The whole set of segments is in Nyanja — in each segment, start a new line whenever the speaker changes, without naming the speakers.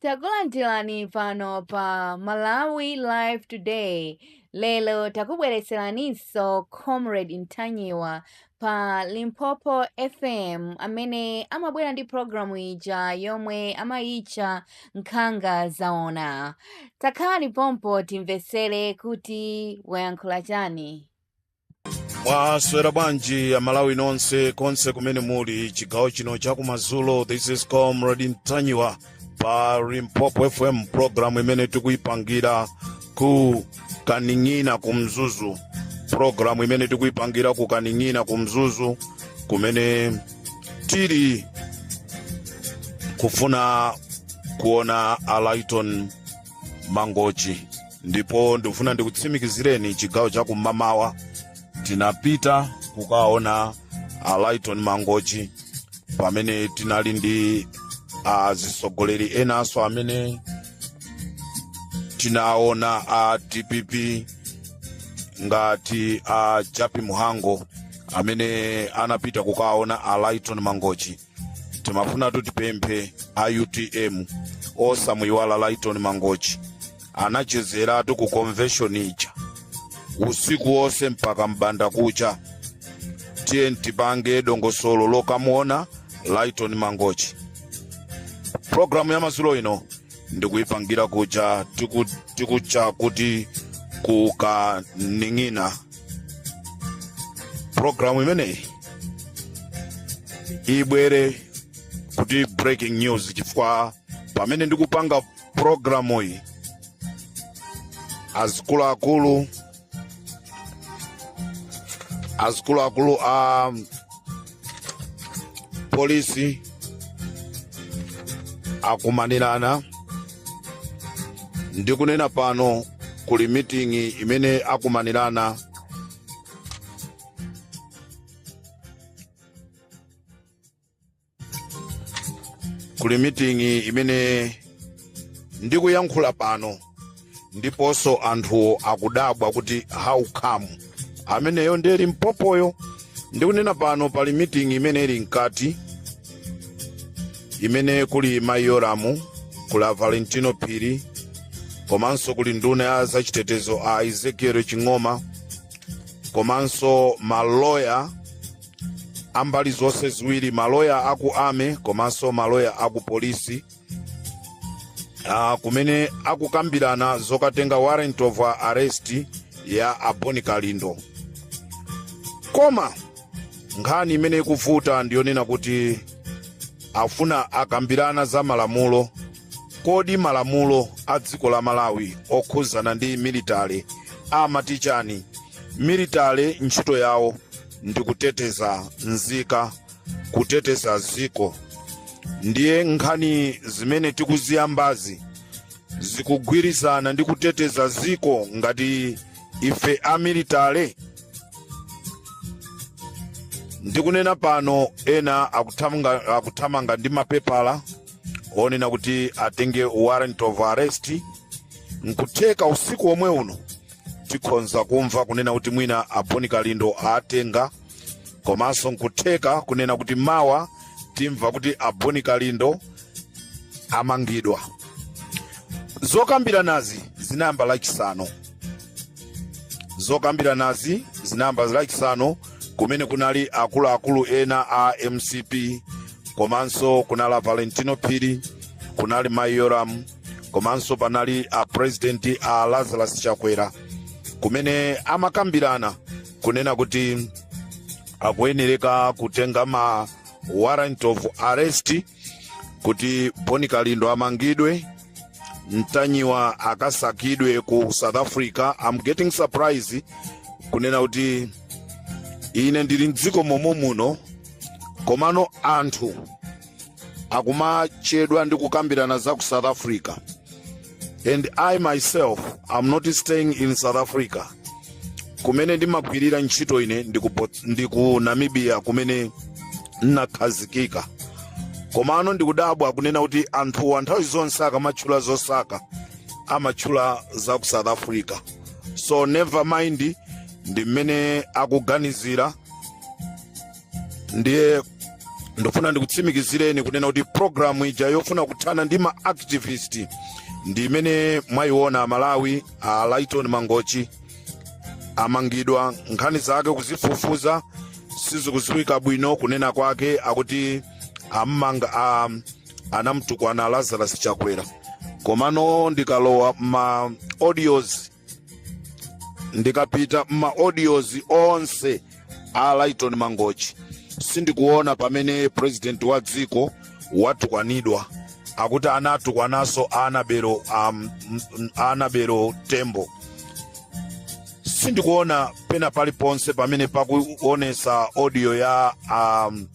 Takulandirani pano pa Malawi Live Today. Lero takubweretseraninso Comrade Ntanyiwa pa Limpopo FM amene amabwera ndi programu ija yomwe amayitcha Nkhanga Zaona. Takhalani pompa timvetsere kuti wayankhula chani.
mwaswera bwanji amalawi nonse konse kumene muli chigawo chino chakumadzulo this is comrade ntanyiwa pa limpopo fm programu imene tikuyipangira ku kaning'ina ku mzuzu programu imene tikuyipangira ku kaning'ina ku mzuzu kumene tili kufuna kuona a laiton mangochi ndipo ndikufuna ndikutsimikizireni chigawo cha kum'mamawa tinapita kukaona a laiton mangochi pamene tinali ndi azisogoleri enanso amene tinaona a dpp ngati a jappie mhango amene anapita kukaona a lighton mangochi timafunatu tipemphe a utm osamuyiwala laiton mangochi anachezeratu ku convention ija usiku wonse mpaka mbanda kucha tiyeni tipange dongosolo lokamuona laiton mangochi programu ya madzulo ino ndikuyipangira kuja tiku- tikucha kuti kukaning'ina programu imene ibwere kuti breaking news chifukwa pamene ndikupanga programu iyi azikuluakulu akuluakulu a um, polisi akumanirana ndikunena pano kuli miting'i imene akumanirana kuli miting'i imene ndikuyankhula pano ndiponso anthuwo akudabwa kuti how come ameneyo ndiye limpopoyo ndikunena pano pali mitingi imene ili mkati imene kuli mayi yolamu kuli a valentino phiri komanso kuli nduna ya zachitetezo a ezekiel ching'oma komanso maloya ambali zonse ziwiri maloya aku army komanso maloya aku polisi kumene akukambirana zokatenga warrant of arrest ya a boni kalindo koma nkhani imene ikuvuta ndiyonena kuti afuna akambirana za malamulo kodi malamulo a dziko la malawi okhuzana ndi military amati chani military ntchito yawo ndi kuteteza nzika kuteteza ziko ndiye nkhani zimene tikuziyambazi zikugwirizana ndi kuteteza ziko ngati ife a military ndikunena pano ena akuthamanga ndi mapepala onena kuti atenge warrant of arrest nkutheka usiku omwe uno tikhonza kumva kunena kuti mwina a boni kalindo awatenga komanso nkutheka kunena kuti mawa timva kuti a boni kalindo amangidwa zokambiranazi zinayamba lachisanu zokambiranazi zinayamba lachisanu kumene kunali akuluakulu ena a mcp komanso kunali valentino phiri kunali mayi yolamu komanso panali a president a lazarus chakwera kumene amakambirana kunena kuti akuyenereka kutenga ma warrant of arrest kuti boni kalindo amangidwe ntanyiwa akasakidwe ku south africa I'm getting surprised kunena kuti ine ndili mdziko mommuno komano anthu akumachedwa ndi kukambirana za ku south africa and i myself am not staying in south africa kumene ndimagwirira ntchito ine ndi ku namibia kumene nnakhazikika komano ndikudabwa kunena kuti anthuwa nthawi zonse akamatchula zosaka amatchula za ku south africa so never mind ndi mmene akuganizira ndiye ndifuna ndikutsimikizireni kunena kuti programu ija yofuna kuthana ndi ma activist ndi imene mwayiona amalawi a lytone mangochi amangidwa nkhani zake kuzifufuza sizikuziwika bwino kunena kwake akuti awamanga a, anamtukwana lazarus chakwera komano ndikalowa ma audios ndikapita m'maaudios onse a lytone mangochi sindikuona pamene president wa dziko watukwanidwa akuti anatukwananso a anabelo tembo sindikuona pena paliponse pamene pakuonesa audio ya um,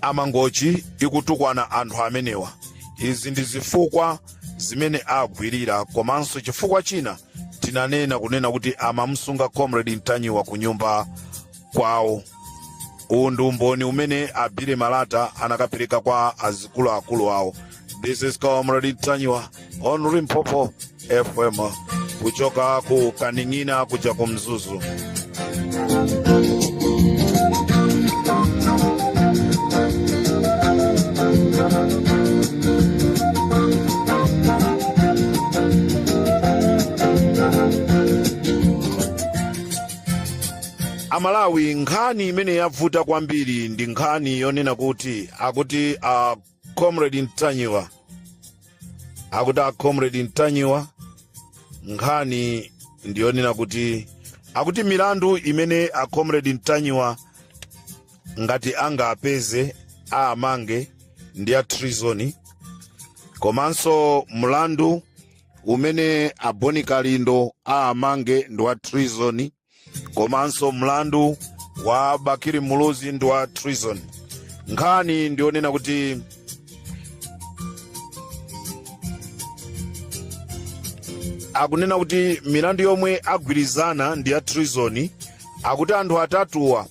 amangochi ikutukwana anthu amenewa izi ndi zifukwa zimene agwirira komanso chifukwa china tinanena kunena kuti amamsunga comrade mtanyiwa ku nyumba kwawo uwu ndi umboni umene abire malata anakapereka kwa azikuluakulu awo This is Comrade Ntanyiwa on Limpopo FM kuchoka ku Kaning'ina kuja ku Mzuzu. Amalawi nkhani imene yavuta kwambiri ndi nkhani yonena kuti akuti a comrade ntanyiwa akuti a comrade ntanyiwa nkhani ndiyonena kuti akuti milandu imene a comrade ntanyiwa ngati angapeze aamange ndi ya treason komanso mlandu umene a boni kalindo aamange ndi wa treason komanso mlandu wa bakili muluzi ndi wa treason nkhani ndiyonena kuti akunena kuti milandu yomwe agwirizana ndi ya treason akuti anthu atatuwa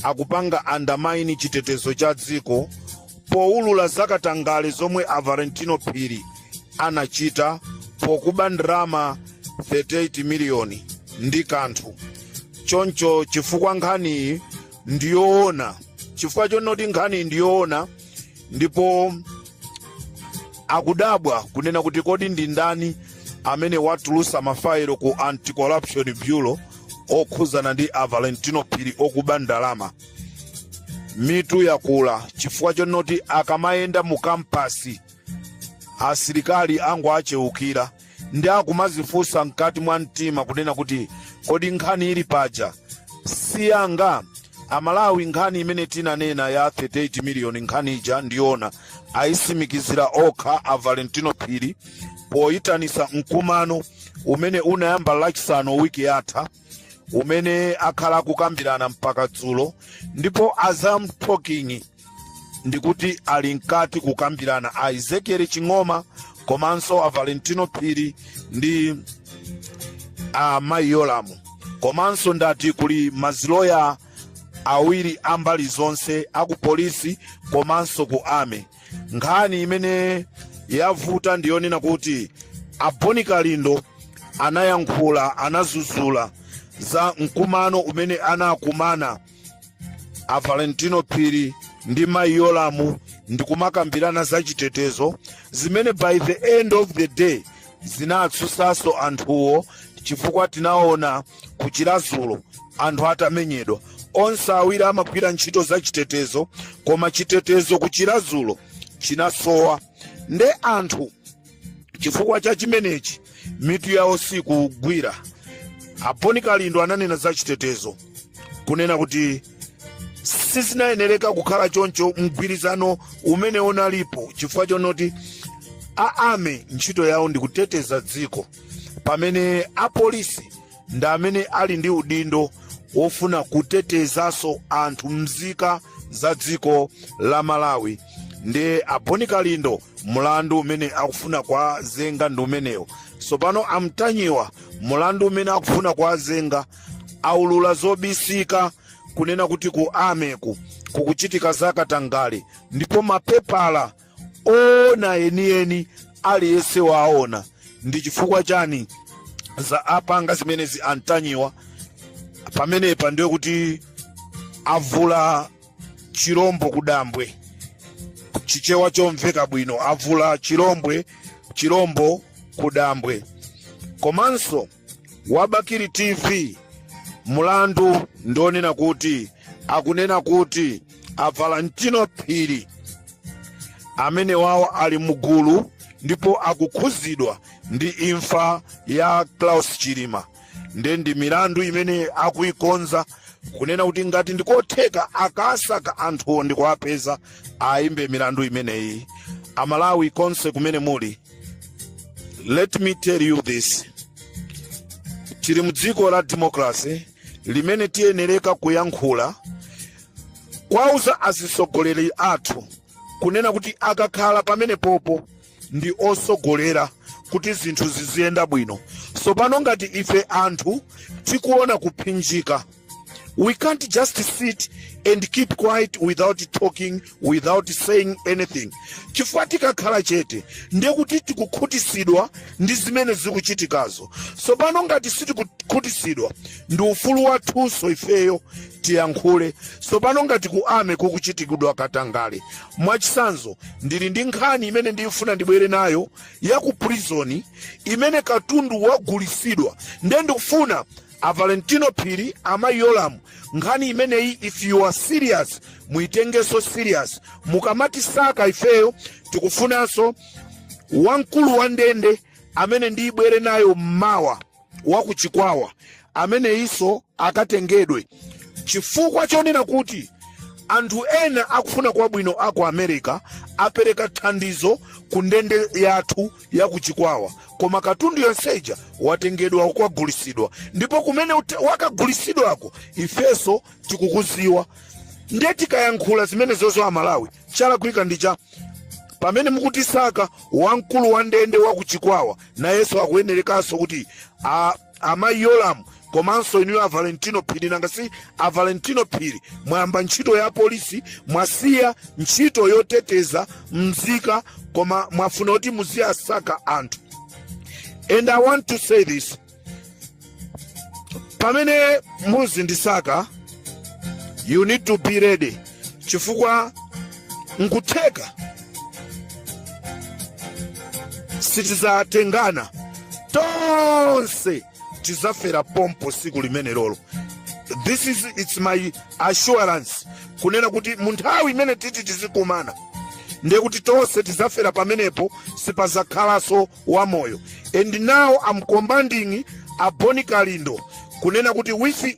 akupanga undermine chitetezo cha dziko poulula za katangale zomwe a Valentino Phiri anachita pokuba ndalama 38 miliyoni ndi kanthu choncho chifukwa nkhaniyi ndiyoona chifukwa chonoti nkhaniyi ndiyoona ndipo akudabwa kunena kuti kodi ndi ndani amene watulusa mafayilo ku anti-corruption bureau okhuzana ndi a valentino phiri okuba ndalama mitu yakula chifukwa chonoti akamayenda mu kampasi asilikali angowacheukira ndiye akumazifunsa mkati mwa mtima kunena kuti kodi nkhani ili paja siyanga amalawi nkhani imene tinanena ya 38 miliyoni nkhani ija ndiona ayisimikizira okha a valentino phiri poyitanisa mkumano umene unayamba lachisanu wiki yatha umene akhala akukambirana mpaka dzulo ndipo as I'm talking ndikuti ali mkati kukambirana a ezekiel ching'oma komanso a valentino phiri ndi a mayi yolamu komanso ndati kuli maziloya awiri a mbali zonse aku polisi komanso ku army nkhani imene yavuta ndiyonena kuti a bon kalindo anayankhula anazuzula za mkumano umene anakumana a valentino phiri ndi mayi yolamu ndikumakambirana za chitetezo zimene by the end of the day zinatsutsanso anthuwo chifukwa tinaona ku chiradzulu anthu atamenyedwa onse awiri amagwira ntchito za chitetezo koma chitetezo ku chiradzulu chinasowa nde anthu chifukwa cha chimenechi mitu yawo sikugwira a bon kalindo ananena za chitetezo kunena kuti sizinayenereka kukhala choncho mgwirizano umene unalipo chifukwa chonoti a army ntchito yawo ndi kuteteza dziko pamene apolisi ndi amene ali ndi udindo wofuna kutetezanso anthu mzika za dziko la malawi ndiye a bon kalindo mulandu umene akufuna kuwazenga ndi umenewo tsopano antanyiwa mulandu umene akufuna kuwazenga aulula zobisika kunena kuti ku armyku kukuchitika zakatangale ndipo mapepala oona enieni aliyense waona ndi chifukwa chani za apanga zimenezi antanyiwa pamenepa ndiye kuti avula chilombo kudambwe chichewa chomveka bwino avula chilombwe chilombo kudambwe komanso wa bakili tv mulandu ndi wonena kuti akunena kuti a valentino phiri amenewawo ali mugulu ndipo akukhuzidwa ndi imfa ya klaus chilima nde ndi milandu imene akuikonza kunena kuti ngati ndikotheka akasaka anthuwo ndikuwapeza awayimbe milandu imeneyi amalawi konse kumene muli let me tell you this tili mdziko la democracy limene tiyenereka kuyankhula kuwauza azitsogoleri athu kunena kuti akakhala pamenepopo ndi osogolera kuti zinthu ziziyenda bwino sopano ngati ife anthu tikuona kuphinjika We can't just sit and keep quiet without talking, without saying anything. Chifukwa tikakhala chete ndiye kuti tikukhutisidwa ndi zimene zikuchitikazo. Tsopano ngati sitikukhutisidwa ndi ufulu wathunso ifeyo tiyankhule. Tsopano ngati ku army kukuchitikidwa katangale. Mwachitsanzo ndili ndi nkhani imene ndikufuna ndibwere nayo ya ku prison imene katundu wagulisidwa ndiye ndikufuna A Valentino Phiri, Amayi Yolamu, nkhani imeneyi if you are serious muitengenso serious. Mukamatisaka ifeyo tikufunanso wamkulu wa ndende amene ndibwere nayo mmawa wa ku Chikwawa ameneyinso akatengedwe chifukwa chonena kuti anthu ena akufuna kwabwino a ku America apereka thandizo ku ndende yathu ya ku Chikwawa koma katundu yonse uja watengedwa kukagulisidwa ndipo kumene wakagulisidwako ifeso tikukuziwa ndiye tikayankhula zimenezozo amalawi chalakwika ndi chani pamene mukutisaka wamkulu wa ndende wa ku Chikwawa nayenso akuyenerekanso kuti a amayi yolamu komanso inuyo a valentino phiri nanga si a valentino phiri mwayamba ntchito ya polisi mwasiya ntchito yoteteza mzika koma mwafuna kuti muziwasaka anthu and i want to say this pamene muzindisaka you need to be ready chifukwa nkutheka sitizatengana tonse tizafera pompo siku limenelolo this is it's my assurance kunena kuti munthawi imene titi tizikumana ndiye kuti tonse tizafera pamenepo sipazakhalanso wamoyo and now i'm commanding aboni kalindo kunena kuti with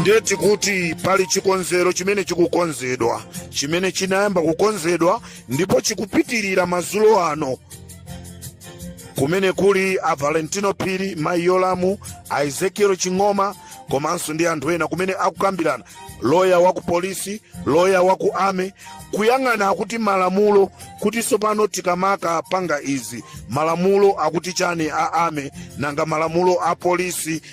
ndeti kuti pali chikonzero chimene chikukonzedwa chimene chinayamba kukonzedwa ndipo chikupitirira mazulo ano kumene kuli a valentino phiri mayi yolamu a ezekiel ching'oma komanso ndi anthu ena kumene akukambirana loya wa ku polisi loya wa ku army kuyang'ana kuti malamulo kuti tsopano tikamakapanga izi malamulo akuti chani a army nanga malamulo a polisi